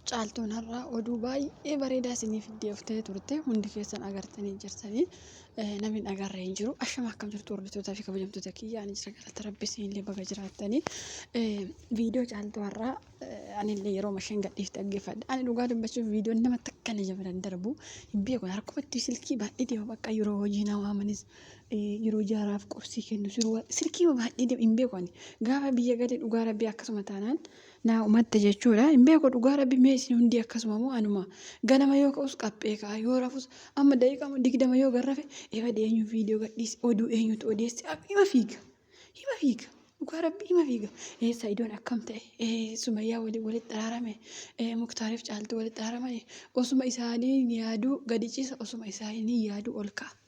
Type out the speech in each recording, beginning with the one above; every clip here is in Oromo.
Caaltuun har'a oduu baay'ee bareedaa isinii fiddee dhuftee turte hundi keessan agartanii jirtanii namni hin agarre hin jiru ashama akkam jirtu hordoftoota fi kabajamtoota kiyya ani jira galata rabbi siinillee baga jiraattanii viidiyoo caaltuu har'aa anillee yeroo masheen gadhiif dhaggeeffadha ani dhugaa dubbachuuf viidiyoon nama takka na jabana hin darbu hin beeku harkumatti silkii baay'ee deema bakka yeroo hojii na waamanis yeroo jaaraaf qubsii kennu silkii baay'ee deema hin beeku ani gaafa biyya galee dhugaa rabbi akkasuma taanaan naa humatte jechuudha hin beeku dhugaa rabbi mee isin hundii akkasuma moo anuma ganama yoo ka'us qaphee ka'a yoo rafus amma daqiiqaa digdama yoo gad rafe ebadi eenyu viidiyoo gadhiise oduu eenyutu odeesse ab- hima fiiga hima fiiga dhugaa rabbi hima fiiga ee sa'idoon akkam ta'e ee sumayyaa wali walitti araarame ee muktaariif caaltu walitti araaraman osuma isaanii yaaduu gadi ciisa osuma isaanii yaaduu ol ka'a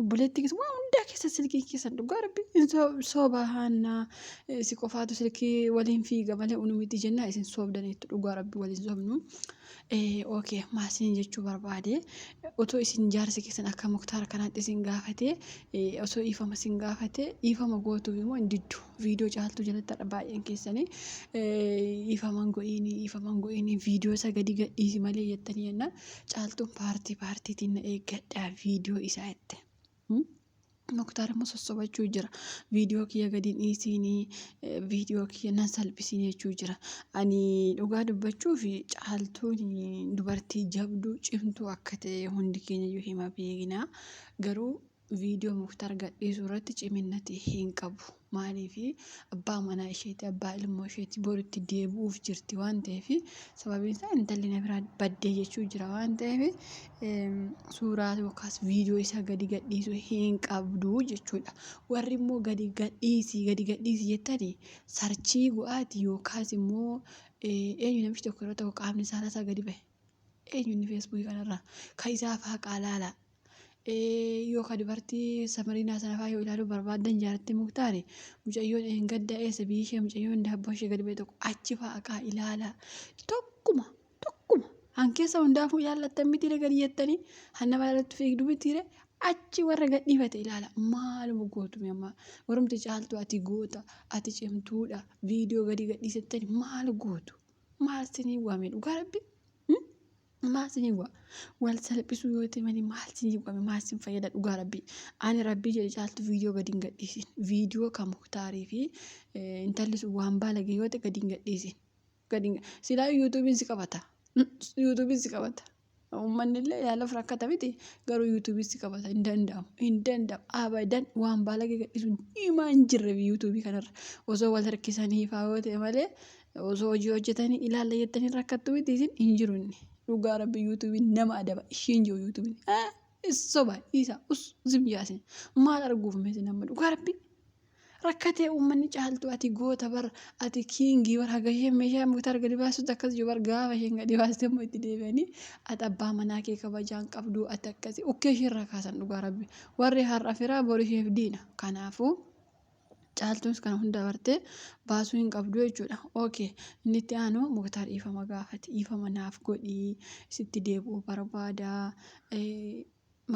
Obboleettii kiyya waan hundaa keessa silkii keessan dhugaa rabbi hin sobahaannaa si qofaatu silkii waliin fiiga malee unu miti jennaa isin soobdaniitu dhugaa rabbi waliin soobnu. Ookee maa isin jechuu barbaade otoo isin jaarsi keessan akka muktaara kanaatti isin gaafate osoo dhiifama isin gaafate dhiifama gootuuf immoo hin diddu. viidiyoo caaltuu jalattadha baay'een keessanii ifaman go'iini ifaman go'iini viidiyoo isa gadi gadhiisi malee jettanii jennaan caaltuun paartii paartiitiin na eeggadhaa viidiyoo isaa jette. Muktaar immoo sossobachuu jira. Viidiyoo kiyya gadi dhiisiinii viidiyoo kiyya nan salphisiin jechuu jira. Ani dhugaa dubbachuuf caaltuun dubartii jabduu cimtuu akka ta'e hundi keenya iyyuu hima beekna. Garuu Video muktar gadhiisu irratti ciminnati hin qabu maaliifi abbaa manaa isheeti abbaa ilmoo isheeti bor itti deebi'uuf jirti waan ta'eef sababiin isaa intalli na biraa baddee jechuu jira waan ta'eef suuraa yookaas viidiyoo isaa gadi gadhiisu hin qabdu jechuudha warri immoo gadi gadhiisi gadi gadhiisi jettani sarchii go'aati yookaas immoo eenyu namichi tokko irra tokko qaamni isaa isaa gadi bahe eenyuunni feesbuukii kanarraa kan isaa faa qaalaalaa Yoo ka dubartii Samariinaa sana faa yoo ilaaluu barbaaddan jaaratti muktaare mucayyoon eengadda eessa biyyi ishee mucayyoon daabboo ishee gadi ba'e tokko achi faa aqaa ilaalaa tokkuma tokkuma han keessa hundaafuu ilaallattan mitiire gadi jettanii han nama irratti fiigdu mitiire achi warra gadhiifate ilaala maaluma gootume amma warumti caaltu ati goota ati cimtuudha viidiyoo gadi gadhiisettani maal gootu maal sinii waame dhugaa rabbi Maal siniin wa'a? Wal salphisuu yoo ta'e malee maal siniin wa'a? Maal sin fayyada dhugaa rabbii? Ani rabbii jedhe caaltu viidiyoo gadi hin gadhiisin. Viidiyoo kan muktaarii fi eh, intalli sun waan baalage yoo ta'e gadi hin gadhiisin. Gadi hin ga- silaa yuutuubiin si qabata. Yuutuubiin si qabata. Uummanni illee yaala of rakkata miti garuu yuutuubiin si qabata hin danda'amu. Hin danda'amu. Abadan waan baalage gadhiisuun himaa hin jirre yuutuubii kanarra. Osoo wal harkisanii faa yoo ta'e malee Osoo hojii hojjetanii ilaalla jettanii rakkattu miti isin hin jiru inni. Dhugaa rabbi yuutuubiin nama adaba ishiin jiru yuutuubiin. Ah, is soba dhiisaa us zim jaasin. Maal arguuf mee isin amma dhugaa rabbi. Rakkatee uummanni caaltu ati goota bar ati kiingii bar haga isheen meeshaa muktaar gadi baasutti akkas jiru bar gaafa isheen gadi baaste immoo itti deebi'anii ati abbaa manaa kee kabajaan qabdu ati akkasi ukkee ishee irraa kaasan dhugaa rabbi. Warri har'a firaa bor isheef diina. Kanaafuu Caaltuunis kana hunda bartee baasuu hin qabdu jechuudha. Ok inni itti aanu Muktaar dhiifama gaafate dhiifama naaf godhi sitti deebi'uu barbaada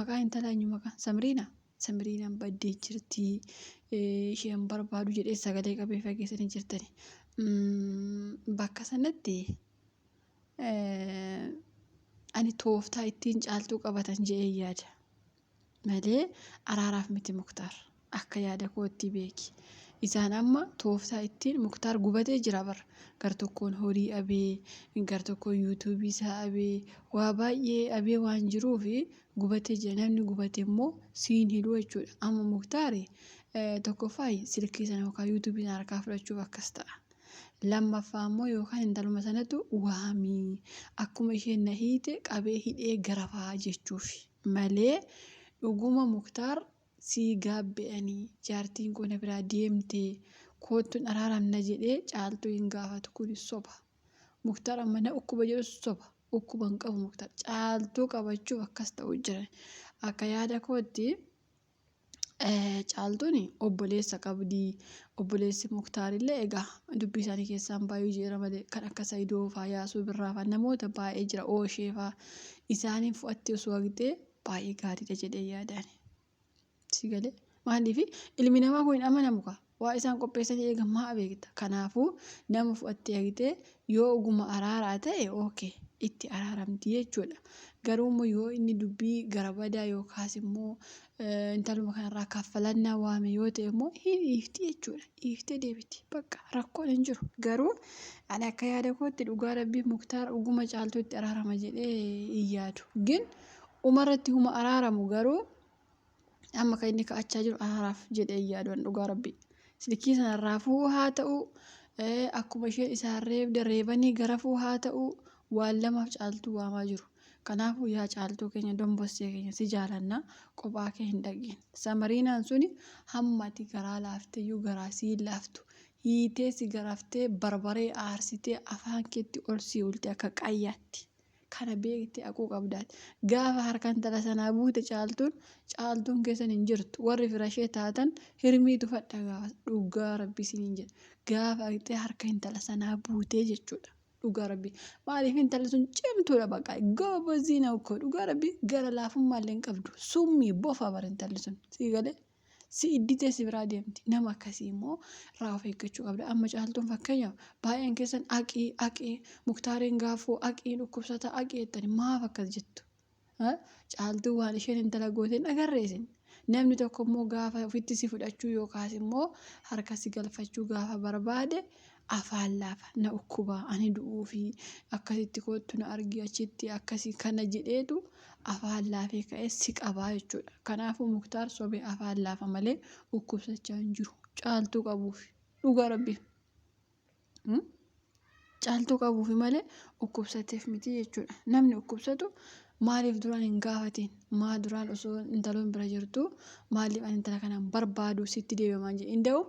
maqaa intalaa eenyu maqaa Samiriina Samiriinaan baddee jirti isheen barbaadu jedhee sagalee qabee fageessanii jirtani. Bakka sanatti ani tooftaa ittiin caaltuu qabatan jedhee yaada. malee araaraaf miti muktaar akka yaada koottii beeki isaan amma tooftaa ittiin muktaar gubatee jira bar gar tokkoon horii abee gar tokkoon yuutuubii isaa abee waa baay'ee abee waan jiruu fi gubatee jira namni gubate immoo siin hidhuu jechuudha amma muktaari tokkoffaa silkii sana yookaan yuutuubii sana harkaa fudhachuuf akkas ta'a. Lammaffaa immoo yookaan intaluma sanatu waamii akkuma isheen na hiite qabee hidhee garafaa jechuufi. malee dhuguma muktaar sii gaabbe ani jaartiin koo na biraa deemte koottun araaramna jedhe caaltuu hin gaafatu kuni soba muktaar amma na ukkuba jedhus soba ukkuba hin qabu muktaar caaltuu qabachuuf akkas ta'u jira akka yaada kootti Caaltuun obboleessa qabdi. Obboleessi Muktaar illee egaa dubbii isaanii keessaa hin baay'uu jira malee kan akka Saidoo faa Yaasuu Birraa faa namoota baay'ee jira Ooshee faa isaaniin fu'atti osoo haqxee baay'ee gaariidha jedhee yaadaan. Si galee maaliif ilmi namaa kun hin amanamu kaa. Waan isaan qopheessanii eegan maa beekta? Kanaafuu nama fudhattee ergitee yoo oguma araaraa ta'e ok itti araaramti jechuudha. Garuu immoo yoo inni dubbii garabadaa yookaas immoo intaluma kanarraa kaffalannaa waame yoo ta'e immoo hin dhiifti jechuudha. Dhiiftee deebiti. Bakka rakkoon hin jiru. Garuu ani akka yaada kootti dhugaa rabbii muktaar oguma caaltuu itti araarama jedhee hin yaadu. Gin umarratti huma araaramu garuu Amma kan inni ka'achaa jiru anaaf jedhee yaaduun dhugaa rabbi. Silkii sana raafuu haa ta'u akkuma isheen isaan reebde reebanii garafuu haa ta'u waan lamaaf caaltuu waamaa jiru. Kanaafuu yaa caaltuu keenya dombossee keenya si jaalanna qophaa kee hin dhaqiin. Samariinaan suni hammati garaa laafteyyuu garaa sii laaftu. Hiitee si garaftee barbaree aarsitee afaan keetti ol sii ulte akka qayyaatti. kana beekte haquu qabdaati. Gaafa harka intala sanaa buute Caaltuun, Caaltuun keessan hin jirtu. Warri firashee taatan hirmii tufadha gaafa. Dhugaa Rabbii isiniin jedha. Gaafa dhaqxee harka intala sanaa buutee jechuudha. Dhugaa Rabbii. Maaliif intalli sun cimtuudha baqa. Goobozii na ukkoo. Dhugaa Rabbii gara laafummaallee hin qabdu. Summii bofa bara intalli sun. Sii galee? Si idditee si biraa deemti. Nama akkasii immoo irraa of eeggachuu qabda. Amma caaltuun fakkeenyaaf baay'een keessan aqii aqii muktaariin gaafuu aqii dhukkubsataa aqii jettani maaf akkas jettu? Ha? Caaltuu waan isheen intala goote hin agarree isin. Namni tokko immoo gaafa ofitti si fudhachuu yookaas immoo harka si galfachuu gaafa barbaade afaan laafa na dhukkuba ani du'uufi akkasitti koottu na argi achitti akkasi kana jedheetu afaan laafee ka'e si qabaa jechuudha. Kanaafuu muktaar sobe afaan laafa malee dhukkubsachaa hin jiru caaltuu qabuufi dhugaa rabbii. Caaltuu qabuufi malee dhukkubsateef miti jechuudha. Namni dhukkubsatu Maaliif duraan hin gaafatiin? Maa duraan osoo intaloon bira jirtuu maaliif ani intala kana hin barbaadu sitti deebi'amaan jedhe. Inda'u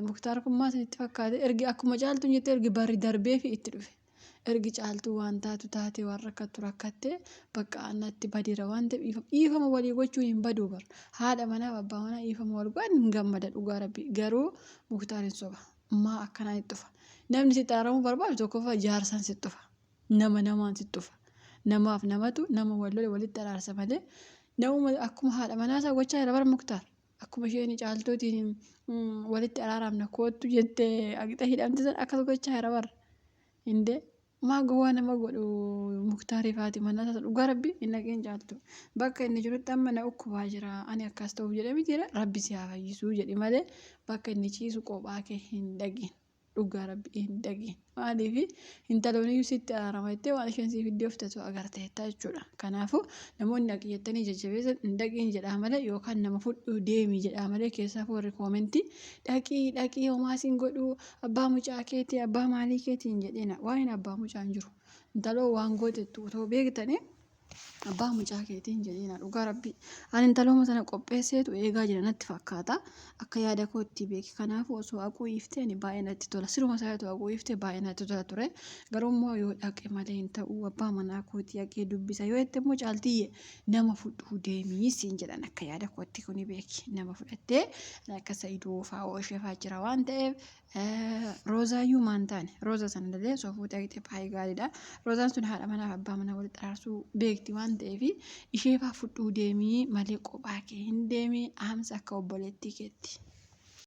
Muktaar kun maa isinitti fakkaate ergi akkuma caaltuun jette ergi barri darbeefi itti dhufe. Ergi caaltuu waan taatu taatee waan rakkattu rakkattee bakka annatti badeera waan ta'eef dhiifama dhiifama walii gochuun hin baduu bar. Haadha manaaf abbaa manaa dhiifama wal godhan hin gammada dhugaa rabbii garuu Muktaar hin soba. Maa akkanaan itti dhufa? Namni sitti araaramuu barbaadu tokkoffaa jaarsaan sitti dhufa. nama namaan tuttufa. Namaaf namatu nama wal lole walitti araarsa malee namuma akkuma haadha manaa isaa gochaa jira bar Muktaar. Akkuma isheen caaltuutiin walitti araaraamna koottu jette agixa hidhamte san akkas gochaa jira bar. Indee maa gowwaa nama godhu Muktaariif haati manaa isaa dhugaa rabbi hin dhaqeen caaltu. Bakka inni jirutti amma na ukkubaa jira ani akkas ta'uuf jedhe miti rabbi si haa fayyisuu jedhi malee bakka inni ciisu qophaa kee hin dhaqin. dhugaa rabbi hin dhagin maaliifi hintalooniyyuu sitti araarama jettee waan isheen siif iddoo fitatu agarteetta jechuudha kanaafuu namoonni dhaqi jettanii jajjabeessan hin dhaqiin jedhaa malee yookaan nama fudhuu deemii jedhaa malee keessaaf warri koomentii dhaqii dhaqii homaa siin godhuu abbaa mucaa keetii abbaa maalii keetii hin jedhina waa'een abbaa mucaa hin jiru intaloo waan gootettu otoo beektanii Abbaa mucaa keetii hin jedhiina dhugaa rabbii. Ani intalooma sana qopheesseetu eegaa jira natti fakkaata. Akka yaada koo itti beeki. Kanaafuu osoo haquu iiftee ani baay'ee natti tola. Siruma isaa otoo haquu iiftee baay'ee natti tola ture. Garuu immoo yoo dhaqe malee hin ta'u abbaa manaa kootii haqee dubbisa yoo jette immoo caaltiyyee nama fudhuu deemii siin jedhan akka yaada kootti kuni beeki. Nama fudhattee akka sa'idoo fa'aa oosheefaa jira waan ta'eef Roozaayyuu maan taane rooza sana illee osoo fuutee argite baay'ee gaariidha. Roozaan sun haadha manaa fi abbaa manaa walitti araarsuu beekti waan ta'eef ishee faa fudhuu deemii malee kophaa kee hin deemii haamsa akka obboleettii keetti.